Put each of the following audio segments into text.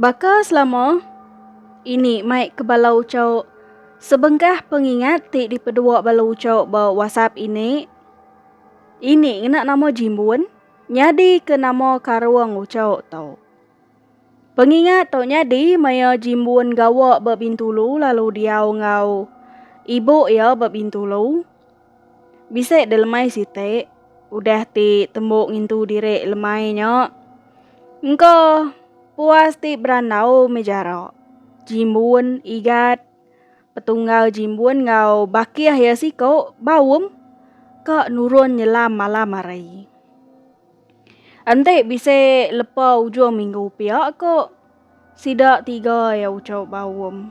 Baka selama ini mai ke bala uchauk sebengkah pengingat ti dipedua bala uchauk ba WhatsApp ini, ini ngena nama Jimbun nyadi ke nama karung uchauk tu. Pengingat tu nyadi maya Jimbun gawa ba Bintulu lalu diau enggau ibu iya ba Bintulu. Bisi delemai siti udah ti tembu ngintu diri lemai nya. Engka puas ti berandau mih jarak. Jimbun igat petunggal jimbun enggau bakih iya siku baum ka nurun nyelam malam hari. Enti bisi lepa ujung minggu pia ko. Sida tiga iya ucau ba Uum.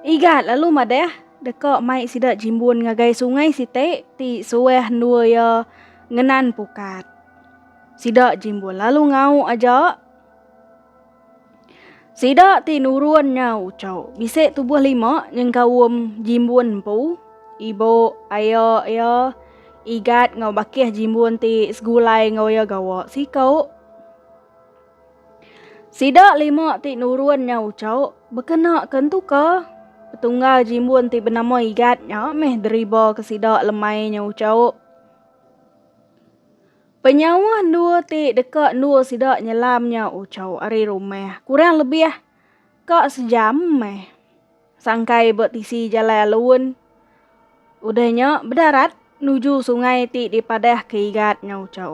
Igat lalu madah deka mai sida jimbun ngagai sungai siti ti suah endua iya ngenan pukat. Sida jimbun lalu ngau aja. Sida ti nurun nya ucau bisi tubuh lima nyengka Uum jimbun empu, ibu, aya iya, Igat enggau Bakih jimbun ti segulai enggau iya gawa siku. Sida lima ti nurun nya uco bekena ke entu ka. Petunggal jimbun ti benama Igat nya meh deriba ke sida lemai nya uco. Penyauh endur ti deka endur sida nyelam nya uco ari rumah kurang lebih ka sejam meh. Sangkai ba tisi Jalai Alun, udah nya bedarat nuju sungai ti dipadahka Igat enggau Ucho.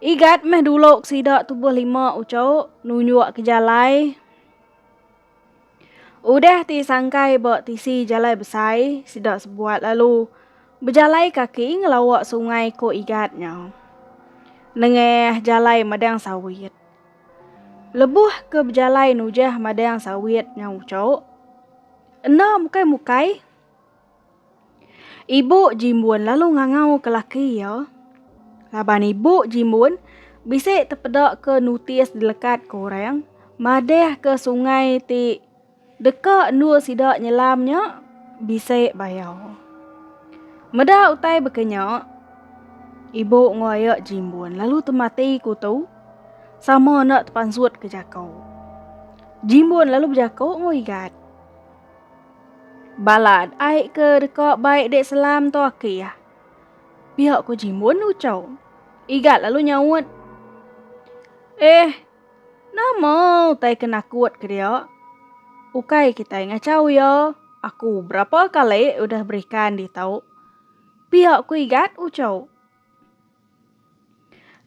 Igat meh dulu ke sida tubuh lima Ucho nunjukka jalai. Udah ti sangkai ba tisi Jalai Besai, sida sebuat lalu bejalai kaki ngelawa sungai ku Igat nya nengah jalai madang sawit. Lebuh ke bejalai nujah madang sawit nyau ucho, enda mukai-mukai, ibu Jimbun lalu ngangauka laki iya laban ibu Jimbun bisi tepedaka nutis dilekat ke orang madahka sungai ti Deka endur sida nyelam nya bisi bayau. Meda utai baka nya, ibu enggau aya Jimbun lalu temati ku tu sama enda tepansut ke jako. Jimbun lalu bejako enggau Igat. Balat ai ke deka bai dek selam tu akih. Pia ko Jimbun ucau. Igat lalu nyaut, Eh, Nama utai ke nakut ke dia? Ukai kitai ngachau iya, aku berapa kali udah berikan ditau. Pia ku Igat ucau.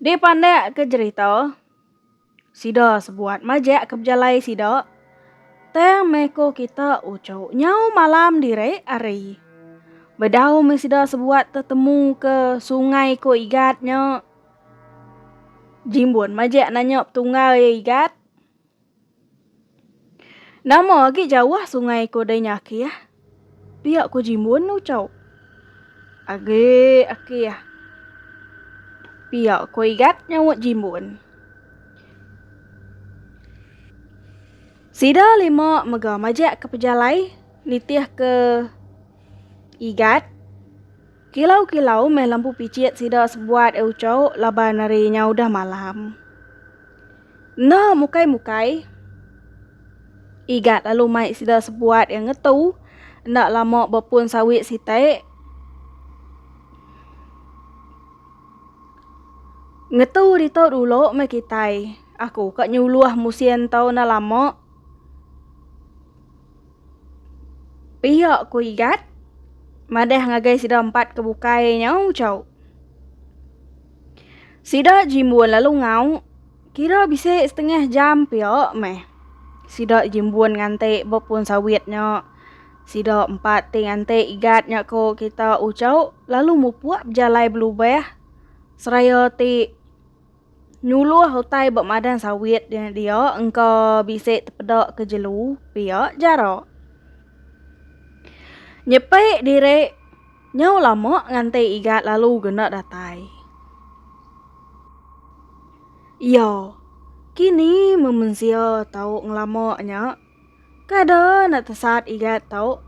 Dipandak ke jerita, sida sebuat majak ke bejalai sida, tang meh ko kita ucau nyau malam diri hari. Bedau meh sida sebuat tetemu ke sungai ko Igat nya. Jimbun majak nanyop tunggal iya igat. Nama agi jauh sungai ko dei nya aki ah. Pia ko Jimbun ucau. Agi aki ah. Pia ko igat nyaut Jimbun. Sida lima mega majak ke pejalai nitih ke igat. Kilau-kilau meh lampu pichit sida sebuat e ucho laban ari nya udah malam. Enda mukai-mukai Igat lalu mai sida sebuat e ngetu enda lama ba pun sawi siti. Ngetu ditu dulu meh kitai, aku ka nyuluh musin tu enda lama. Pia ku Igat madah ngagai sida empat ke bukai nya Chau. Sida jimbun lalu ngau kira bisi setengah jam pia meh. Sida jimbun nganti ba pun sawit nya. Sida empat ti nganti Igat nya ko kita Chau lalu mupuk bejalai belubah seraya ti Nuluh utai ba madang sawit dia engka bisi tepeda ke jelu pia jara. Nyepi diri nyau lama nganti iga lalu guna datai. Iya, kini memensia tau ngelama nya kada enda tesat iga tau.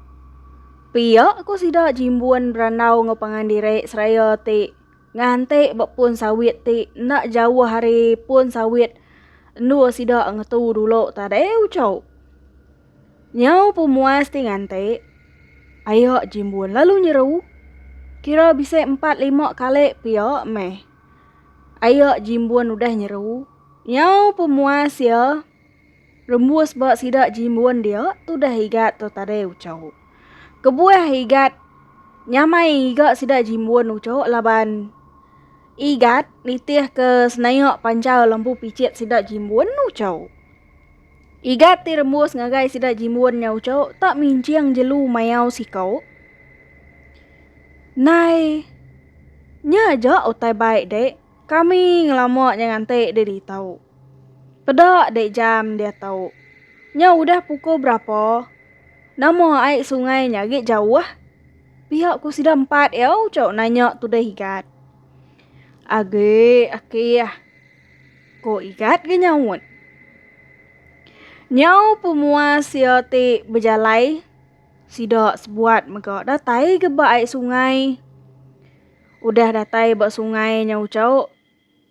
Pia ku sida Jimbun berandau enggau pangan diri seraya ti. Nganti ba pun sawit ti enda jauh ari pun sawit endur sida ngetu dulu tadi uco. Nyau pemuas ti nganti, aya Jimbun lalu nyeru. Kira bisi empat lima kali pia meh. Aya Jimbun udah nyeru, nyau pemuas iya. Rembus ba sida jimbun dia tudah igat tu tadai ucau. Kebuah igat nyamai iga sida jimbun ucau laban igat nitih ke senaya panjau lembu picit sida jimbun ucau. Igat ti rembus ngagai sida jimbun nya ucau tak minjing jelu mayau sikau. Nai nya ja utai bai dek. Kami ngelama nya nganti deh ditau. Peda deh jam dia tau. Nya udah pukul berapa? Nama ai sungai nya agi jauh? Pia ku sida empat iya ucok nanya tudah Igat. Agi akih, ku Igat ke nyaut. Nyau pemuas iya ti bejalai, sida sebuat mega datai ke ba ai sungai. Udah datai ba sungai nyau chauk,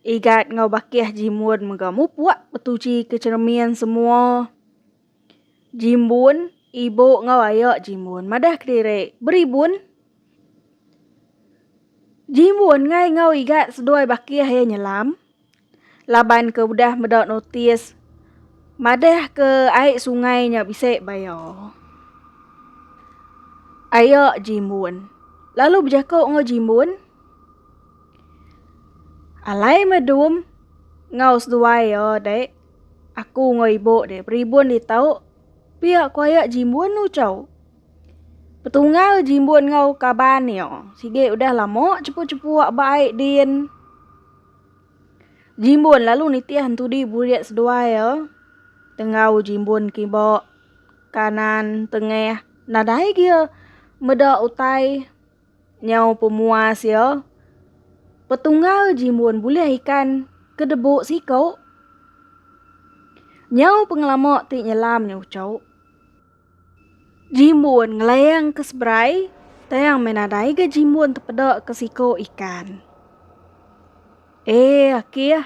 Igat enggau Bakih jimbun mega mupuk betuchi ke cheremin semua jimbun ibu enggau aya jimbun madah kediri beribun. Jimbun ngai enggau Igat seduai Bakih iya nyelam. laban ke udah meda notis madah ke ai sungai nya bisi baya aya jimun lalu bejaku enggau jimun alai me dum enggau seduai iya dek aku enggau ibu dek beribun ditu pia ku aya jimun tu chau petungal jimun enggau kaban iya sigi udah lama chepuk-chepuk ba ai din. Jimbun lalu nitih entudi burit seduai e tenggau jimbun kiba kanan tengah nadai gia meda utai nyau pemuas ia petunggal jimbun bulih ikan ke debu siko nyau pengelama ti nyelam nya ucho. Jimbun ngelayang ke seberai, tang meh nadai ga jimbun tepeda ke siko ikan. Eh akih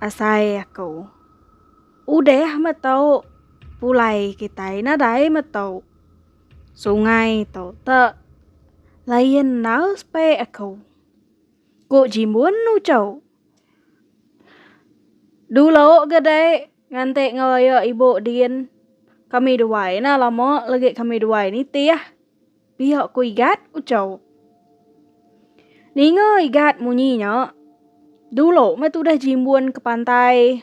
asai aku. Udah meh tu pulai kitai nadai meh tu sungai tu te layan aus pe aku. Ku jimbun ucho. Dulo ga dei. Nganti ngeraya ibu din kami duai nah lama legi kami duai nitih pia ku Igat ucau. Ninga Igat munyi nya dulu meh tudah jimbun ke pantai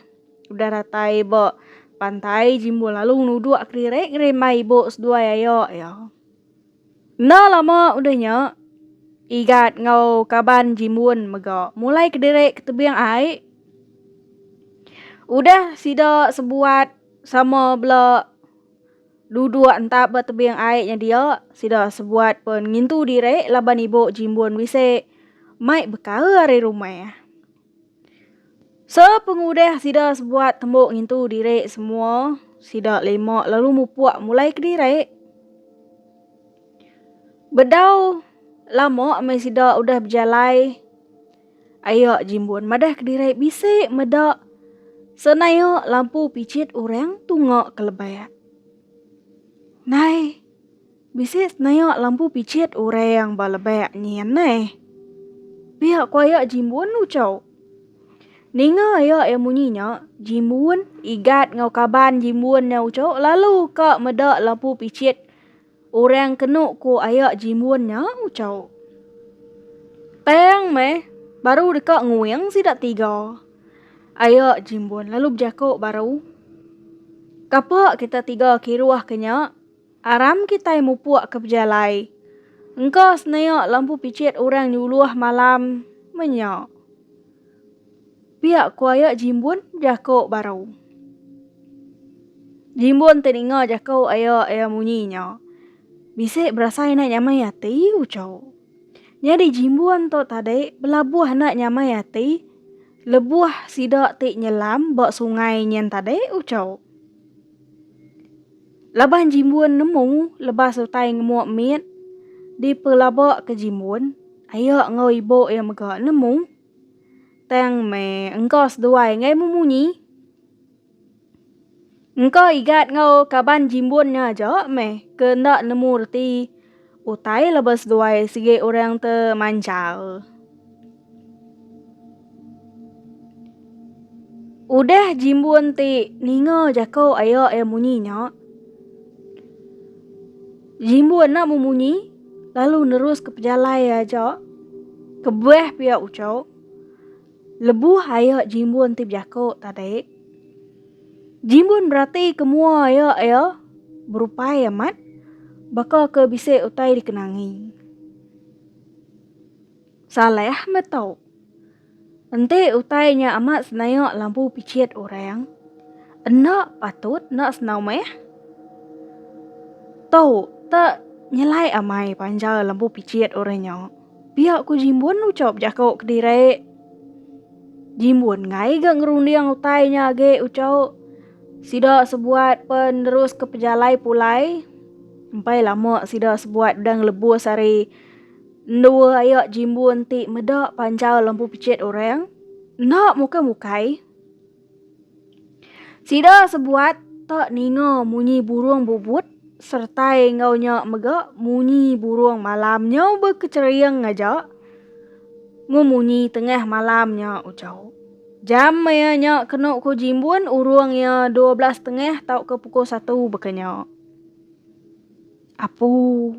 udah datai ba pantai jimbun lalu nuduk kediri ngerimbai ibu seduai aya iya. Enda lama udah nya, Igat enggau kaban Jimun mega mulai kediri ke tebing ai. Udah sida sebuat sama bela duduk entap ba tebing ai nya dia, sida sebuat pun ngintu diri laban ibu Jimun bisi mai bekaul ari rumah. Sepengudah sida sebuat tembu ngintu diri semua, sida lima lalu mupuk mulai kediri. Bedau lama meh sida udah bejalai, ayo Jimbun madah kediri bisi meda senaya lampu pichit orang tunga ke lebak. Nai. Bisi senayak lampu picit orang ba lebak nyin neh. Pia ku ayak Jimbun ucau. Ninga ayak iya munyi nya, Jimbun, Igat enggau kaban Jimbun nya ucau lalu ka meda lampu picit orang kenu ku ayak Jimbun nya ucau. Tang meh baru deka nguing sida tiga. Ayak Jimbun lalu bejako baru. Kapa kita tiga kiruh ke nya? Aram kitai mupuk ke pejalai. Engka seneak lampu picit orang nyuluh malam menya. Pia ku ayak Jimbun jako baru. Jimbun teninga jako ayak iya munyi nya. Bisi berasai enda nyamai ati uco. Nyadi Jimbun tu tadi belabuh enda nyamai ati lebuh sida ti nyelam ba sungai nyen tadi uco. Laban Jimbun nemu lebas utai ngemuk mit dipelaba ke Jimbun, aye enggau ibu iya mega nemu tang meh engka seduai enggai memunyi. Engka Igat enggau kaban Jimbun nya aja meh ke enda nemu reti. Utai leba seduai sigi orang te manjal. Udah jimbun ti ninga jako aya iya munyi nya. Jimbun na memunyi lalu nerus ke pejalai aja. Kebah pia uco. Lebuh iya Jimbun ti bejako tadi, Jimbun beratika mua iya iya berupai amat baka ke bisi utai dikenangi. Saleh meh tu. Enti utai nya amat senayak lampu pichit orang, enda patut enda senau meh. Tu tak nyelai amai panjau lampu pichit orang nya. Pia ku Jimbun ucop jaku kediri. Jimbun ngai ga ngerunding utai nya agi ucop. Sida sebuat pa neruska pejalai pulai. Empai lama sida sebuat udah ngelebus ari endu aya Jimbun ti meda panjau lembu pechit orang. Enda mukai-mukai. Sida sebuat tak ninga munyi burung bubut sertai enggau nya mega munyi burung malam nyau bekechering aja ngemunyi tengah malam nya ujau. Jam maya nya kenu ku Jimbun urung iya dua belas tengah tauka pukul satu baka nya. Apu.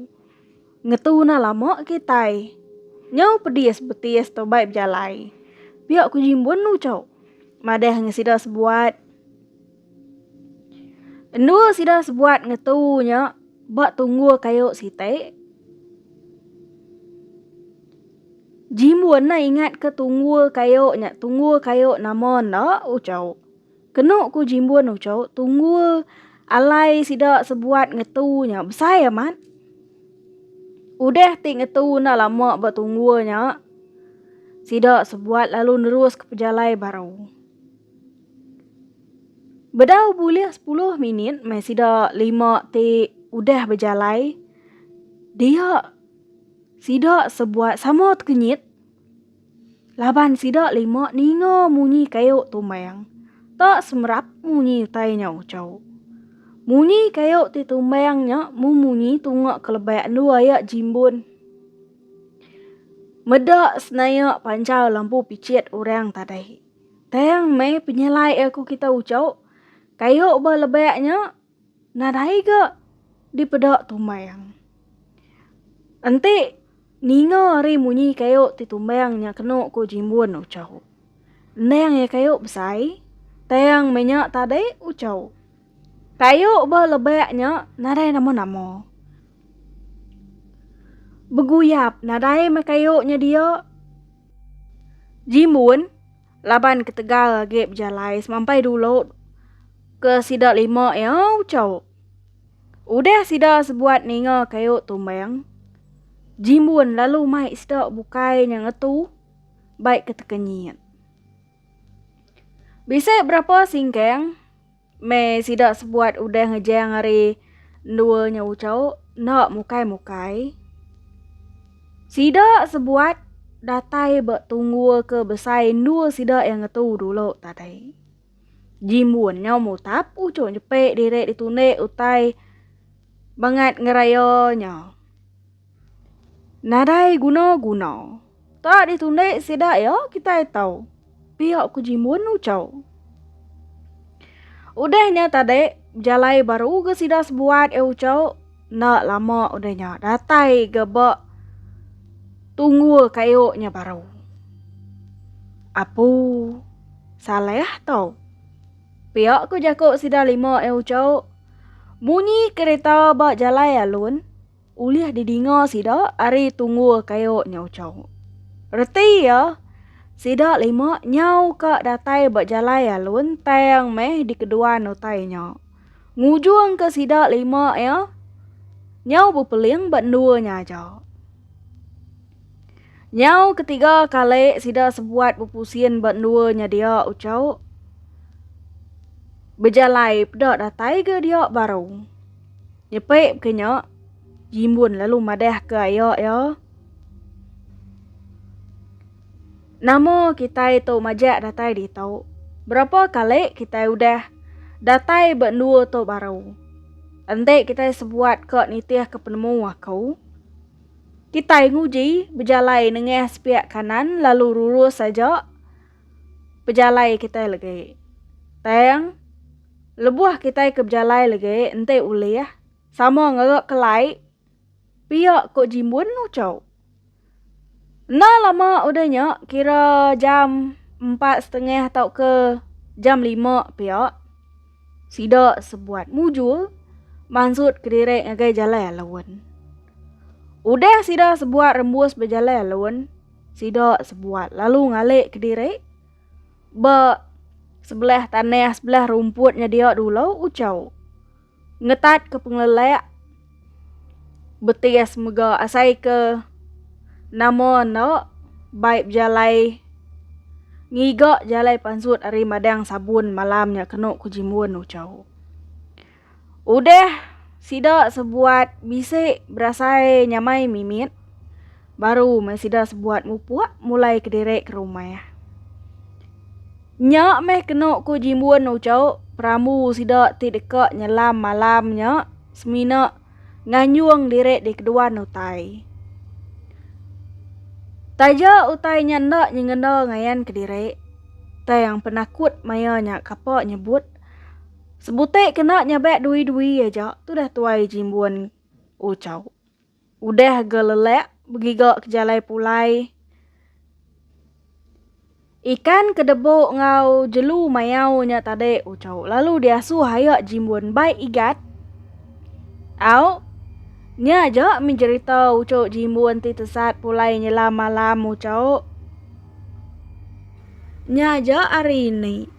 Ngetuna lama kitai. Nyau pedis betis tobai bejalai. Pia ku jimbun nu chau. Madah nge sida sebuat. Endua sida sebuat ngetu nya ba tunggu kayu siti. Jimbun na ingat ke tunggu kayu nya tunggu kayu nama enda u chau. Kenu ku Jimbun Ucho, tunggul alai sida sebuat ngetu nya besai amat. Udah ti ngetu enda lama ba tunggul nya, sida sebuat lalu neruska pejalai baru. Bedau bulih sepuluh minit meh sida lima ti udah bejalai, dia sida sebuat sama tekenyit. Laban sida lima ninga munyi kayu tumbang, tak semerap munyi utai nya ucau. Munyi kayu ti tumbang nya mumunyi tunga kelebak endu ayak jimbun. Meda senaya panjau lampu picit orang tadai. Tang mai penyelai aku kita ucau, kayu ba lebak nya. Nadai ga dipeda tumbang. Enti ninga ari munyi kayu ti tumbang nya kena ku Jimbun Uchau. Endang iya kayu besai, tang meh nya tadi Uchau. Kayu ba lebak nya nadai nama-nama. Beguyap nadai meh kayu nya dia. Jimbun. Laban ketegal agi bejalai semampai dulu ke sida lima iya ucau. Udah sida sebuat ninga kayu tumbang, Jimbun lalu mai sida bukai nya ngetu bai ketekenyit. Bisi berapa singkang Meh sida sebuat udah ngejang ari endua nya uco, enda mukai-mukai. Sida sebuat datai ba tunggul ke besai endua sida iya ngetu dulu tadi. Jimbun nya mutap uco jepe diri ditunde utai bangat ngeraya nya. Nadai guna guna. Tak di tundi sida iya kitai tau. Piak ku jimun ucau. Udah nya tadi bejalai baru ga sida sebuat iya ucau enda lama udah nya datai ga ba tunggul kayu nya baru. Apu Saleh tau. Piak ku jaku sida lima iya ucau munyi kerita ba jalai alun. Ulih didinga sida ari tunggul kayu nyau chau. Reti iya, sida lima nyau ka datai ba jalai alun tang meh dikeduan utai nya. Ngujung ke sida lima iya nyau bepeling ba endua nya aja. Nyau ketiga kali sida sebuat bepusin ba endua nya dia uchau. Bejalai peda datai ga dia baru. Nyepi ke nya, Jimbun lalu madahka iya iya, Nama kitai tu majak datai ditu? Berapa kali kitai udah datai ba endua tu baru. Enti kitai sebuat ka nitihka penemu aku, kitai nguji bejalai nengah sepiak kanan lalu lurus aja. pejalai kitai legi. Tang, lebuh kitai ke bejalai legi enti ulih sama ngera kelai pia ko jimbun uco. Enda lama udah nya kira jam empat setengah tauka jam lima pia sida sebuat mujur mansut kediri ngagai jalai alun. Udah sida sebuat rembus bejalai alun, Sida sebuat lalu ngalik ke diri ba sebelah tanah sebelah rumput nyedia dulu ucau. Ngetat ke pengelelak betis mega asai ke nama enda bai bejalai ngiga jalai pansut ari madang sabun malam nya kenu ke jimun ucau. Udah sida sebuat bisi berasai nyamai mimit, baru meh sida sebuat mupuk mulai kediri ke rumah. Nya meh kenu ku Jimbun Ucho, perambu sida ti deka nyelam malam nya semina nganjung diri di keduan utai. Taja utai nya enda nyengenda ngayan kediri, tang penakut maya nya kapa nyebut. Sebutik kena nyabak dui-dui aja tudah tuai jimbun Uchau. Udah ga lelak begiga ke jalai pulai. Ikan ke debu ngau jelu mayau nya tadi Uchau lalu diasuh aya jimbun bai igat. Au nya aja min jerita Uchau jimbun ti tesat pulai nyelam malam Uchau. Nya aja ari ini.